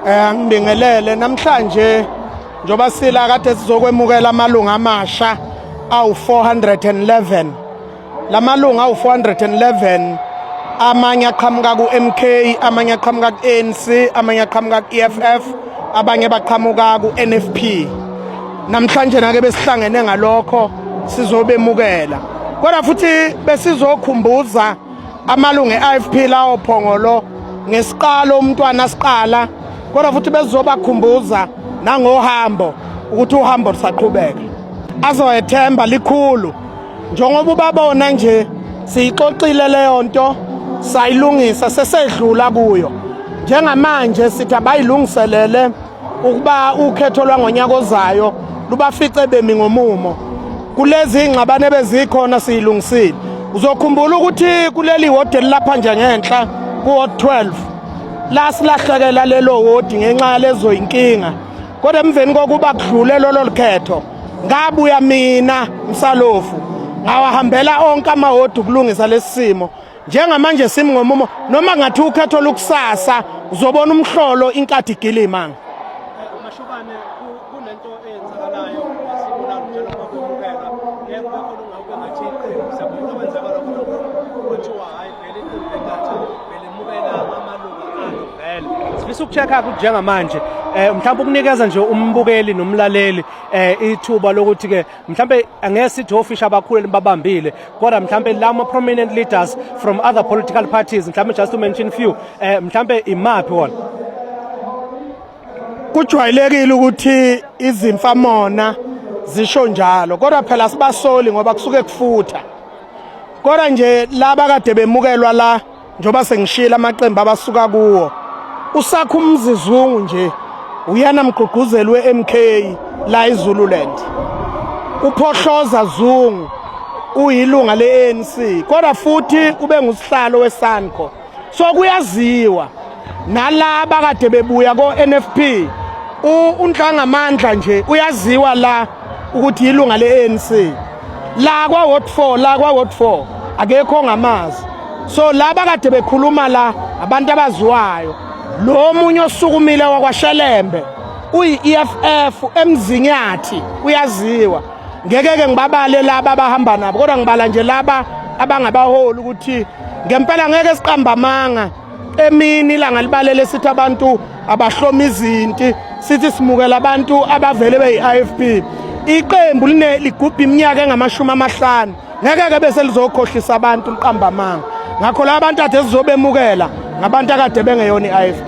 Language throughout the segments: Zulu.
Eh angibingelele namhlanje njoba sila kade sizokwemukela amalunga amasha awu 411 lamalunga awu 411 amanye aqhamuka ku MK amanye aqhamuka ku ANC amanye aqhamuka ku EFF abanye baqhamuka ku NFP namhlanje nake besihlangene ngalokho sizobemukela kodwa futhi besizokhumbuza amalungu e-ifp lawo phongolo ngesiqalo umntwana asiqala kodwa futhi bezizobakhumbuza nangohambo ukuthi uhambo lusaqhubeka azoyethemba likhulu njengoba ubabona nje siyixoxile leyo nto sayilungisa sesedlula kuyo njengamanje sithi abayilungiselele ukuba ukhetho lwangonyaka ozayo lubafice bemi ngomumo kulezi ingxabane bezikhona siyilungisile uzokhumbula ukuthi kuleli wodi elilapha nje ngenhla kuwod 12 la silahlekela lelo wodi ngenxa yalezo yinkinga kodwa emveni kokuba kudlule lolo likhetho ngabuya mina msalofu ngawahambela onke amawodi ukulungisa lesi simo njengamanje simi ngomumo noma ngathi ukhetho lukusasa uzobona umhlolo inkathi igila imanga mashubane kunento eyenzakalayo esibulala njalo kwakuphela ngeke kwakhona ungawuke ngathi iqembu sabona kwenzakala khona kuthiwa hayi vele iqembu lenkathi vele mukela amalungu alo vele sifisa ukuchecka ukuthi njengamanje eh mhlawumbe ukunikeza nje umbukeli nomlaleli eh ithuba lokuthi ke mhlambe angeke sithi ofisha abakhulu libabambile kodwa mhlambe lama prominent leaders from other political parties mhlambe just to mention few eh mhlambe imaphi wona kujwayelekile ukuthi izimfa mona zisho njalo kodwa phela sibasoli ngoba kusuke kufutha kodwa nje laba kade bemukelwa la njengoba sengishiyela amaqembu abasuka kuwo usakha umzizungu nje uyana mgqugquzeli we-mk la izululand uphohloza zungu uyilunga le-anc kodwa futhi ube ngusihlalo wesanco so kuyaziwa nalaba kade bebuya ko-nfp unhlangamandla nje uyaziwa la ukuthi yilunga le-anc la kwa ward 4 la kwa ward 4 akekho ngamazi so laba kade bekhuluma la abantu abaziwayo lo munye osukumile wakwashelembe uyi-EFF emzinyathi uyaziwa ngeke ke ngibabale laba abahamba nabo kodwa ngibala nje laba abangabaholi ukuthi ngempela ngeke siqamba amanga emini ilanga libalele sithi abantu abahloma izinti sithi simukela abantu abavele beyi-ifp iqembu line ligubha iminyaka engamashumi amahlanu ngeke-ke bese lizokhohlisa abantu liqambamanga ngakho la bantu ade sizobemukela ngabantu akade bengeyona i-ifp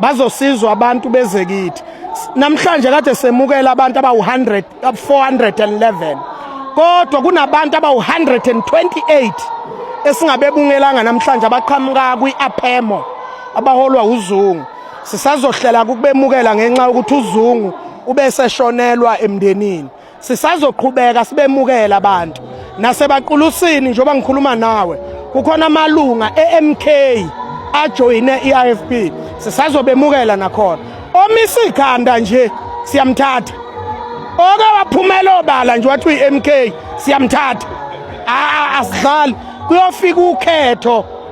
bazosizwa abantu bezekithi namhlanje kade semukela abantu abawu-100 411 kodwa kunabantu abawu-128 esingabebungelanga namhlanje abaqhamuka kwi-apemo abaholwa uzungu sisazohlela kukubemukela ngenxa yokuthi uzungu ubeseshonelwa emndenini Sisazoqhubeka sibemukela abantu nasebaqulusini njengoba ngikhuluma nawe kukhona amalunga eMK ajoyine iIFP sisazobemukela nakhona omisa ikhanda nje siyamthatha oke waphumela obala nje wathi uyiMK siyamthatha asidlali kuyofika ukhetho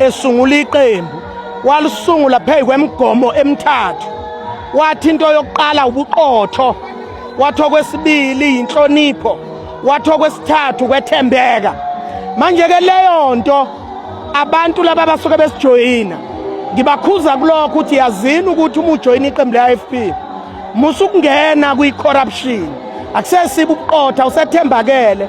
esungula iqembu walisungula phezu kwemigomo emithathu wathi into yokuqala ubuqotho wathi okwesibili yinhlonipho wathi okwesithathu kwethembeka manje-ke leyo nto abantu laba basuke besijoyina ngibakhuza kulokho ukuthi yazini ukuthi uma ujoyina iqembu le-i f p musa ukungena kwi-corruption akusesiba ubuqotha usethembakele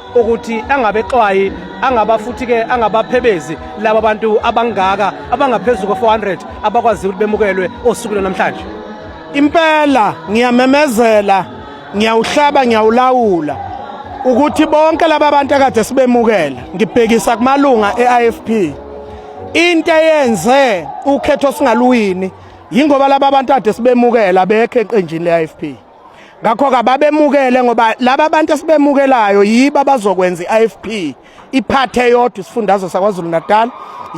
ukuthi angabexwayi angaba futhi ke angabaphebezi laba bantu abangaka abangaphezulu ko400 abakwazi ukuthi bemukelwe osukwini namhlanje impela ngiyamemezela ngiyawuhlaba ngiyawulawula ukuthi bonke laba bantu akade sibemukela ngibhekisa kumalunga eIFP into eyenze ukhetho singaluwini yingoba laba bantu ade sibemukela bekhe eqenjini leIFP ngakho kababemukele ngoba laba bantu esibemukelayo yibo abazokwenza i-IFP iphathe yodwa isifundazwe sakwaZulu Natal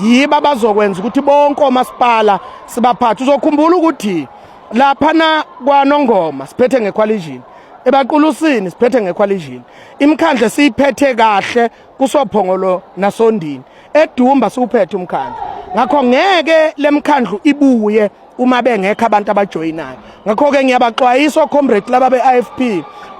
yibo abazokwenza ukuthi bonke omasipala sibaphathe uzokhumbula ukuthi lapha na kwanongoma siphethe ngequalition ebaqulusini siphethe ngequalition imkhandle siyiphethe kahle kusophongolo nasondini edumba siwuphethe umkhandle ngakho ngeke lemkhandlu ibuye uma bengekho abantu abajoyinayo ngakho-ke ngiyabaxwayisa ocomrade laba be-ifp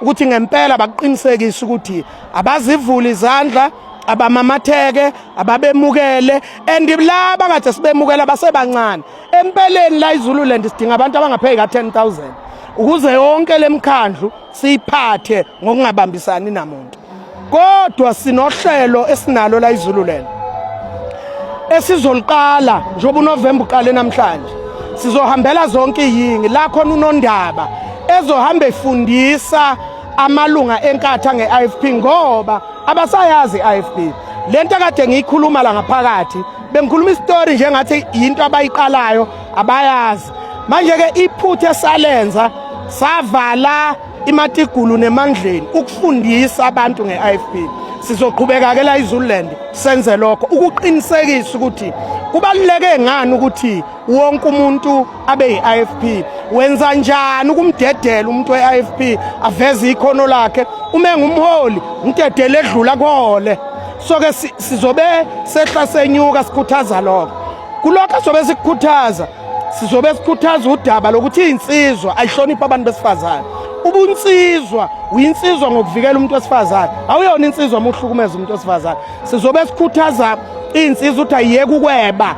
ukuthi ngempela bakuqinisekise ukuthi abazivuli izandla abamamatheke ababemukele and laba kade sibemukela basebancane empeleni la izululand sidinga abantu abangapheki ka-10000 ukuze yonke lemkhandlu siyiphathe ngokungabambisani namuntu kodwa sinohlelo esinalo la izululela esizoliqala njengoba uNovemba uqale namhlanje sizohambela zonke iyingi la khona unondaba ezohamba efundisa amalunga enkatha nge-IFP ngoba abasayazi i-IFP lento kade ngiyikhuluma la ngaphakathi bengikhuluma isitori njengathi yinto abayiqalayo abayazi manje-ke iphutha esalenza savala imatigulu nemandleni ukufundisa abantu nge-ifp sizoqhubeka-ke la izululand senze lokho ukuqinisekisa ukuthi kubaluleke ngani ukuthi wonke umuntu abe yi-ifp wenza njani ukumdedela umuntu we-ifp aveze ikhono lakhe uma engumholi umdedele edlula kuhole so-ke sizobe sehla senyuka sikhuthaza lokho kulokho sobe sikukhuthaza sizobe sikhuthaza udaba lokuthi insizwa ayihloniphe abantu besifazane ubunsizwa uyinsizwa ngokuvikela umuntu wesifazane awuyona insizwa uma uhlukumeza umuntu wesifazane sizobe sikhuthaza iy'nsizwa ukuthi ayiyeke ukweba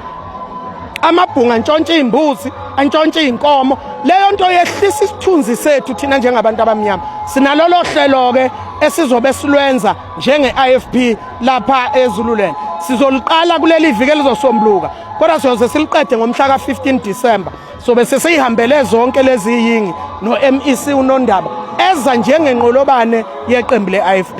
amabhunga antshontshe iy'mbuzi antshontshe iy'nkomo leyo nto yehlisa isithunzi sethu thina njengabantu abamnyama sinalolo hlelo-ke esizobe silwenza njenge-ifp lapha ezululand sizoliqala kuleli viki elizosombuluka kodwa siyoze siliqede ngomhla ka-15 disemba sobe sesiyihambele zonke lezi yingi no-mec unondaba eza njengenqolobane yeqembu le-ifp